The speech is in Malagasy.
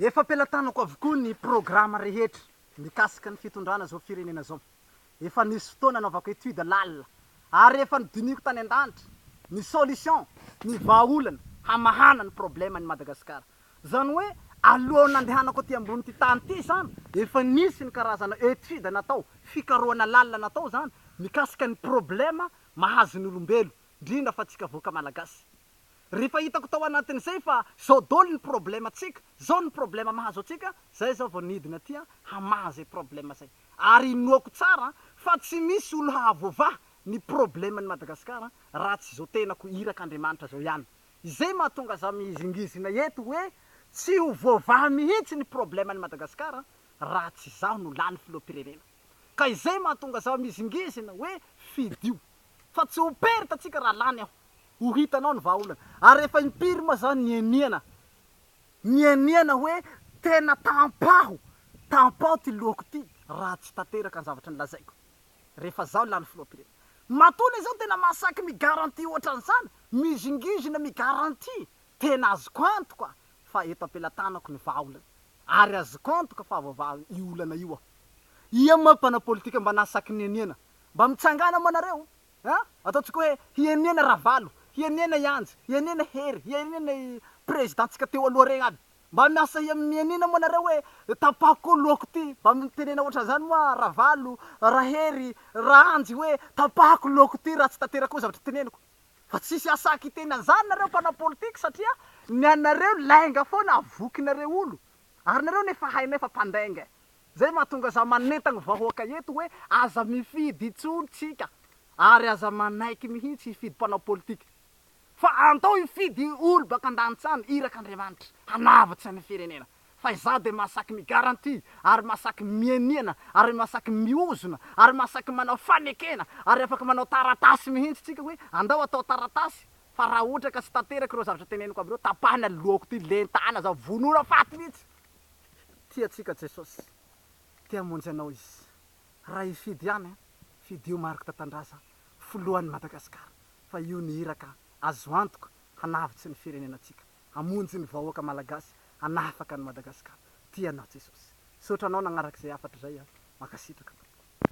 Efa am-pelatanako avokoa ny programa rehetra mikasika ny fitondrana izao firenena izao. Efa nisy fotoana anaovako étude lalina ary efa nodinihiko tany an-danitra ny solution, ny vahaolana hamahana ny problème an'i Madagasikara. Izany hoe alohan'ny nandehanako aty ambonin'ity tany ity izany efa nisy ny karazana étude natao, fikarohana lalina natao izany mikasika ny problème mahazo ny olombelo, indrindra fa antsika vahoaka malagasy. Rehefa hitako tao anatin'izay fa zao dol ny problema tsika, zao ny problema mahazo antsika, zay zaho vao nidina aty hamaha zay problema zay. Ary inoako tsara fa tsy misy olo hahavoavaha ny probleman'i Madagascar raha tsy zao tenako iraka Andriamanitra zao ihany. Izay mahatonga za mihizingizina eto hoe tsy ho voavaha mihitsy ny probleman'i Madagascar raha tsy zaho no lany filoham-pirenena. Ka izay mahatonga zaho mihizingizina hoe fidio. Fa tsy ho perte tsika raha lany aho. Ho hitanao ny vahaolana. Ary rehefa impiry moa zany ny eniana. Ny eniana hoe tena tampaho. Tampaho ty lohako ty raha tsy tanteraka ny zavatra nolazaiko. Rehefa zaho lany filoham-pirenena. Matoa le zao tena mahasaky mi-garantie ohatran'izany. Mizingizina mi-garantie. Tena azoko antoka fa eto am-pelatanako ny vahaolana. Ary azoko antoka fa hahavoavaha io olana io aho. Ia moa mpanao politika mba nahasaky ny eniana. Mba mitsangàna moa nareo an! Ataontsika hoe hienena Ravalo, hienena i Anjy, hienena Hery, hienena i Prezidantsika teo aloha regny aby. Mba miasa mienena moa nareo hoe tapaho koa lohako ty. Mba mitenena ohatran'izany moa Ravalo, Rahery, Raanjy hoe tapahako lohako ty raha tsy tanterako koa zavatra teneniko. Fa tsisy asak hiteny an'izany nareo mpanao politika satria ny anareo lainga foana avokinareo olo. Ary nareo anie efa hainay fa mpandainga e. Zay mahatonga za manentagna vahoaka eto hoe aza mifidy intsony tsika ary aza manaiky mihitsy hifidy mpanao politika fa andao hifidy olo baka andanitsany iraka Andriamanitra hanavotsa ny firenena fa izaho de masaky mi garantie ary masaky mianiana ary masaky miozona ary masaky manao fanekena ary afaka manao taratasy mihitsy tsika hoe andao atao taratasy fa raha ohatra ka tsy tanteraka ireo zavatra teneniko aby ireo tapahina lohako ty lentana za vonona faty mihitsy. Tia antsika Jesosy, te hamonjy anao Izy. Raha hifidy ihany an, fidio Marc Tatandraza filohan'ny Madagasikara fa io ny iraka azo antoka hanavotsy ny firenenantsika, hamonjy ny vahoaka Malagasy, hanafaka an'i Madagasikara. Tia anao Jesosy. Misaotra anao nagnaraka izay hafatra izay an. Mankasitraka tompoko.